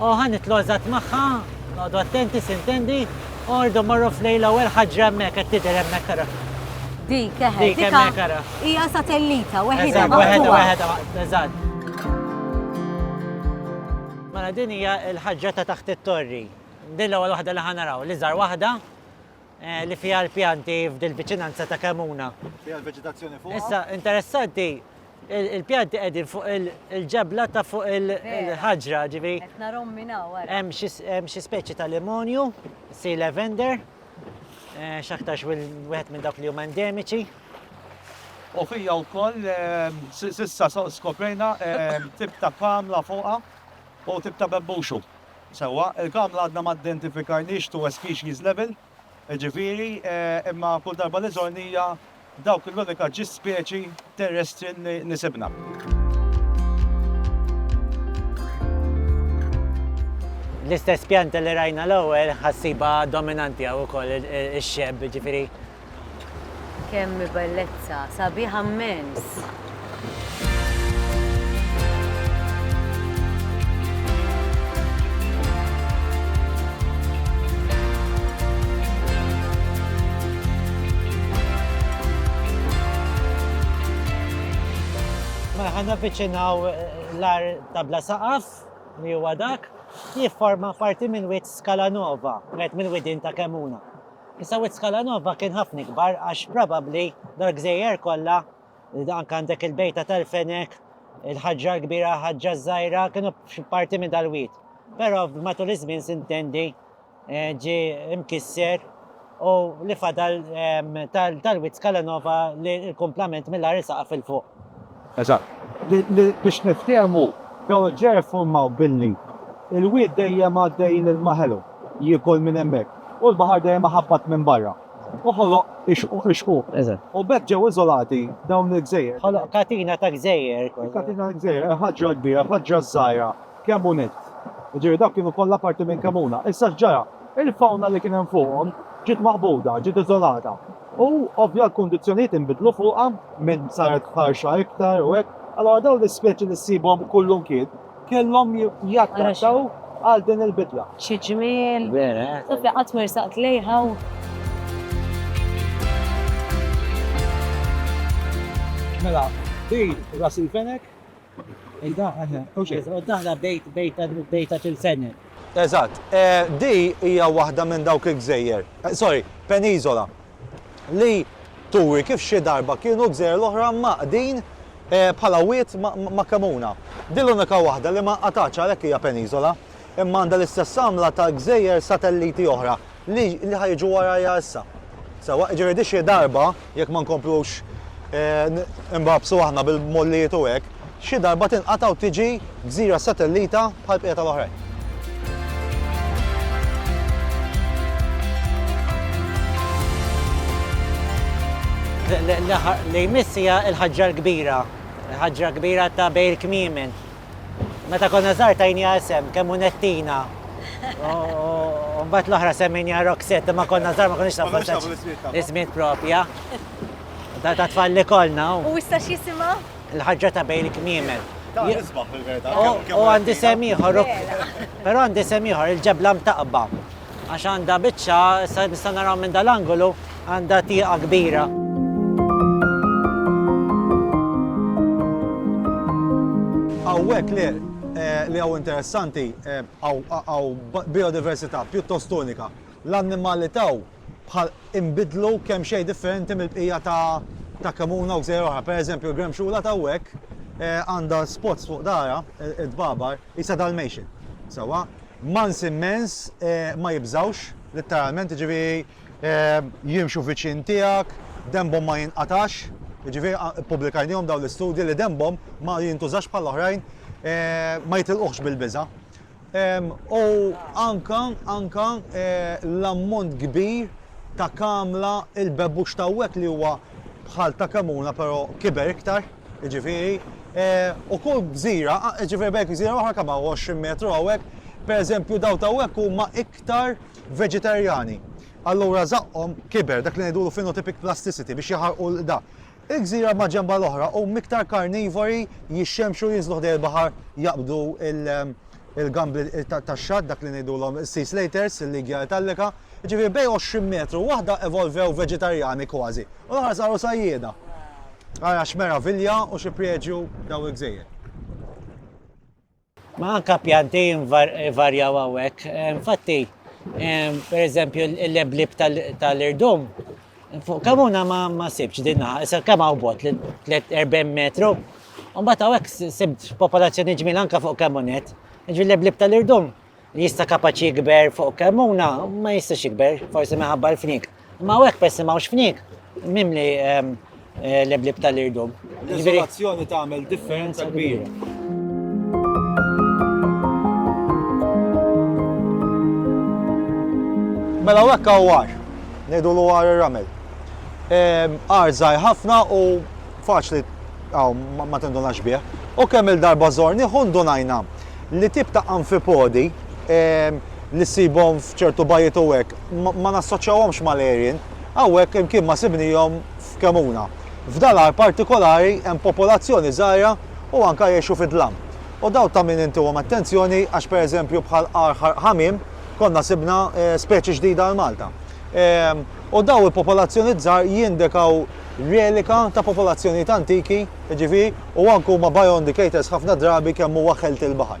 O, ħa nitlu' eżatt magħha, noqogħdu attenti, sintendi? Ordu morru f'lejn l-ewwel ħaġra hemmhekk, qed tidher hemmhekk ara. Dik, eħe, Dik dika hemmhekk ara. hija satellita weħida Eżatt, weħeda, maqtugħa. weħeda, ma- eżatt. Mela din hija l-ħaġra ta' taħt it-torri. Din l-ewwel waħda li ħa naraw, l-iżgħar waħda eh, li fiha l-pjanti f'dil-viċinanza ta' Kemuna. Fiha l-veġitazzjoni fuqha. Issa, interessanti, Il-pjanti qegħdin fuq il-ġebla ta' fuq il-ħaġra, ġivi. Narom minna, Hemm xi speċi ta' limonju, si lavender, eh, x'aktarx wieħed minn dawk li huma endemiċi. U fija wkoll eh, sissa skoprejna eh, tip ta' kamla fuqha u tip ta' bebbuxu. Sewa, il-kamla għadna ma identifikajniex tu species level. Jiġifieri, imma kull darba li żorni hija dawk l-unika ġis speċi terrestri li sibna. L-istess pjanta li rajna l-ewwel ħa ssibha dominanti hawn ukoll, ix-xebk, jiġifieri. Kemm bellezza, sabiħ ammens! Mela ħa navviċinaw l-għar ta' bla saqaf li huwa dak li jifforma parti minn wied Scala Nova, wieħed mill-widien ta' Kemmuna. Issa Wied Scala Nova kien ħafna ikbar għax probabbli dal-gżejjer kollha, anke għandek il-Bejta tal-Fenek, il-Ħaġġa l-Kbira, Ħaġġa ż-Żgħira, kienu parti minn dal-wied. Però matul iż-żmien sintendi eh, ġi mkisser u li fadal ehm, tal-Wied Scala Nova li l-kumplament mill-għar isaqaf il-fuq. Eżatt. Li biex niftiehmu, dawn il-ġrajja ffurmaw billi l-wied dejjem għaddej lil ma ħelu, jiekol minn hemmhekk, u l-baħar dejjem iħabbat minn barra, u ħoloq ix-xquq. Eżatt. U b'hekk ġew iżolati dawn il-gżejjer. Ħoloq katina ta' gżejjer. Katina ta' gżejjer, ħaġra kbira, ħaġra żgħira. kemm hu nett. Jiġifieri dawk kienu kollha parti minn kemm huna. Issa x'ġara? Il-fawna li kien hemm fuqhom ġiet maqbuda, ġiet iżolata. U ovvja l-kundizzjonijiet inbidlu fuqha minn saret ħarxa iktar u hekk. Allura dawn l-ispeċi li ssibhom kullimkien kellhom jaddattaw għal din il-bidla. Xi ġmiel! Vera, eh? Sofja qatt ma rsaqt lejha u. Mela, din ras il-fenek. Eżatt. Di hija waħda minn dawk il-gżejjer, sorry, peniżola, li turi kif xi darba kienu l-gżejjer l-oħra mgħaqqdin bħala wied ma' kemuna. Di l-unika waħda li ma nqatgħatx għalhekk hija peniżola. imma għandha l-istess għamla ta' gżejjer satelliti oħra li li ħa jiġu warajja issa. Sewwa, jiġifieri di xi darba, jekk ma nkomplux imbabsu aħna bil-mollijiet u hekk, xi darba tinqata' u tiġi gżira satellita bħall-bqija tal-oħrajn. Li jmiss hija l-ħaġġa l-kbira, il-ħaġġa l-kbira ta' bejn il-kmiemen, Meta konna żgħar tajniha isem kemm hu Nettina. U mbagħad l-oħra semmejniha Roxette imma konna żgħar ma konniex nafu Konniex nafu l-ismijiet tagħhom. l-ismijiet propja. Ta' ta' tfal li kollna u U issa x'jisimha? l-ħaġġa ta' bejn il-kmiemen. Ta' nisbaħ fil-verità. U kemm- kemm u għandi Nettina. sem ieħor, Vera. però għandi sem ieħor il-ġebla mtaqba. Għax għandha biċċa, issa nistgħu naraw minn dal-angolu, għandha tieqa kbira. Hawnhekk li eh, li hawn interessanti għaw eh, biodiversità pjuttost unika. L-annimali taw bħal imbidlu kemm xejn differenti mill-bqija ta' ta' kamuna u gżejjer oħra. Per eżempju, l-gremxula ta' hekk eh, għandha spots fuq dara, id-babar, jisa dal-mejxin. Sawa, Mans immens ma jibżgħux, litteralment, jiġifieri jimxu viċin tiegħek, denbhom ma jinqatax, jiġifieri ppubblikajnihom dawn l-istudji li denbhom ma jintużax bħal oħrajn, ma jitilquhx bil-biża'. U anke, anke l-ammont kbir ta' kamla il-bebbux t'hawnhekk li huwa bħal ta' kemuna però kiber iktar. jiġifieri, u kull gżira, jiġifieri bejn gżira u oħra kemm hawn, 20 metru hawnhekk, pereżempju dawn t'hawnhekk huma iktar veġetarjani. Allura żaqqhom kiber, dak li ngħidulu phenotypic plasticity, biex jaħarqu l-qda. Il-gżira maġenba l-oħra hum iktar karnivori, jixxemxu, jinżlu ħdejn il-baħar jaqbdu il-gambli tax-xatt, dak li ngħidulhom sea slaters, il-Lygia italica, jiġifieri bejn għoxrin metru u waħda evolvew veġetarjani kważi u l-oħra saru sajjieda. Ara x'meravilja u xi priegju dawn il-gżejjer. Ma anke pjanti jvarjaw hawnhekk. Infatti, pereżempju, il-leblieb tal-irdum Fuq Kamuna ma ma sibx din naħa, issa kemm hawn bot li 40 metru. U mbagħad hawnhekk sibt popolazzjoni ġmiel anke fuq Kamunet. Ġifieri l-eblib tal-irdum li jista' kapaċi jikber fuq Kamuna ma jistax jikber, forsi minħabba l-fnik. Ma hawnhekk persi ma hawnx fnik, mimli ehm, Leblib tal-irdum. L-izolazzjoni tagħmel differenza kbira. Mela u hekk għar, ngħidu l għar ir-ramel. Għar żgħir ħafna u faċli għaw ma tindunax bih. U kemm il-darba żorni ħun donajna li tip ta' amfipodi li sibhom f'ċertu bajiet u hekk ma nassoċjawhomx mal-erin, hawnhekk imkien ma sibnihom f'Kremona. F'dan l-għar partikolari hemm popolazzjoni żgħira u anke jgħixu fid-dlam. U dawn ta' min intuhom attenzjoni għax pereżempju bħal għar Ħarq Ħamiem konna sibna speċi ġdida għal Malta. U dawn il-popolazzjonijiet żgħar jindikaw relika ta' popolazzjonijiet antiki, jiġifieri, u anke huma bioindicators ħafna drabi kemm huwa ħelt il-baħar.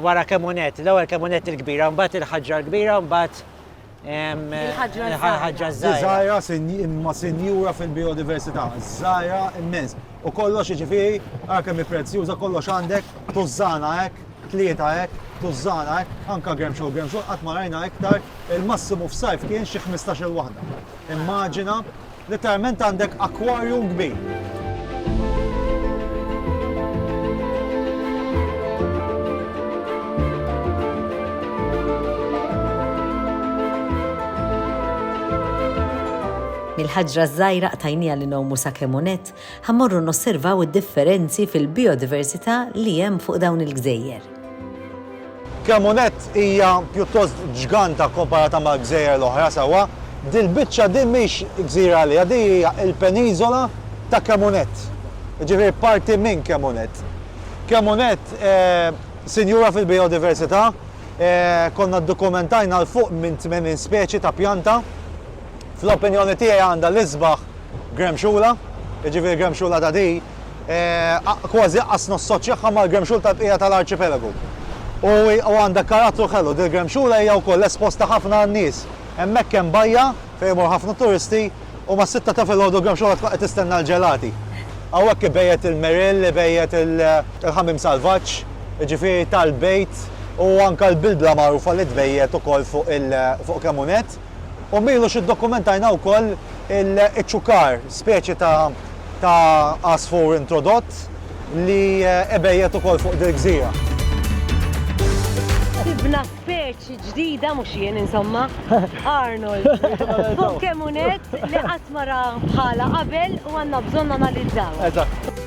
Wara kemunett, l-ewwel kemunett il-kbira, mbagħad il-ħaġra l-kbira, mbagħad il-ħaġra żgħira. Żgħira imma sinjura fil-biodiversità, żgħira immens. U kollox jiġifieri, ara kemm hi prezzjuża, kollox għandek tużżana hekk, tlieta hekk, tużżana hekk, anke gremxu gremxu qatt ma rajna iktar, il-massimu f'sajf kien xi 15-il waħda. Immaġina Litteralment għandek aquarium kbir. Il-ħaġra ż-żgħira qtajnieha li ngħumu sakemm unett Ħa mmorru nosservaw id-differenzi fil-bijodiversità li hemm fuq dawn il-gżejjer. Cremonet hija pjuttost ġganta kkomparata mal-gżejjer l-oħra sewwa. Dil-biċċa din mhix gżira għaliha, din hija l-peniżola ta' Cremonet, jiġifieri parti minn Cremonet. Cremonet sinjura fil-bijodiversità, konna ddokumentajna 'l fuq minn 80 speċi ta' pjanta. Fl-opinjoni tiegħi għandha l-isbaħ Gremxula, jiġifieri Gremxula ta' di, kważi aqqas nossoċjaha mal-Gremxul tal-bqija tal-arċipelagu. U għandha karattru ħelu, dil-Gremxula hija wkoll esposta ħafna għan-nies. Hemmhekk hemm bajja fejn imorru ħafna turisti u mas-sitta ta' filgħodu l-Gremxula tkun qed tistenna l-ġelati. Hawnhekk ibejjet il-meril, ibejjet il-ħamim salvaġġ, jiġifieri tal-bejt u anke l-bilbla magħrufa li tbejjet ukoll fuq kemm hu nett. U m'ilux iddokumentajna wkoll iċ-ċukar, speċi ta' ta' għasfur introdott li ibejjet ukoll fuq dil-gżira. Sibna speċi ġdida, mhux jien insomma, Arnold, fuq kemm hu nett li qatt ma ra bħalha qabel u għandna bżonn nanalizzawha. Eżatt.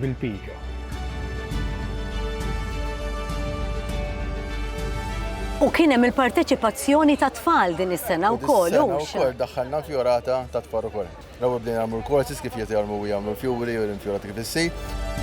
bil-piġa. U kien hemm il-parteċipazzjoni ta' tfal din is-sena wkoll hux. Ukoll daħħalna fjorata ta' tfal ukoll. L-ewwel bdejna nagħmlu l-korsis kif qed jagħmlu jagħmlu l-fjuri u l-infjorati kif issir.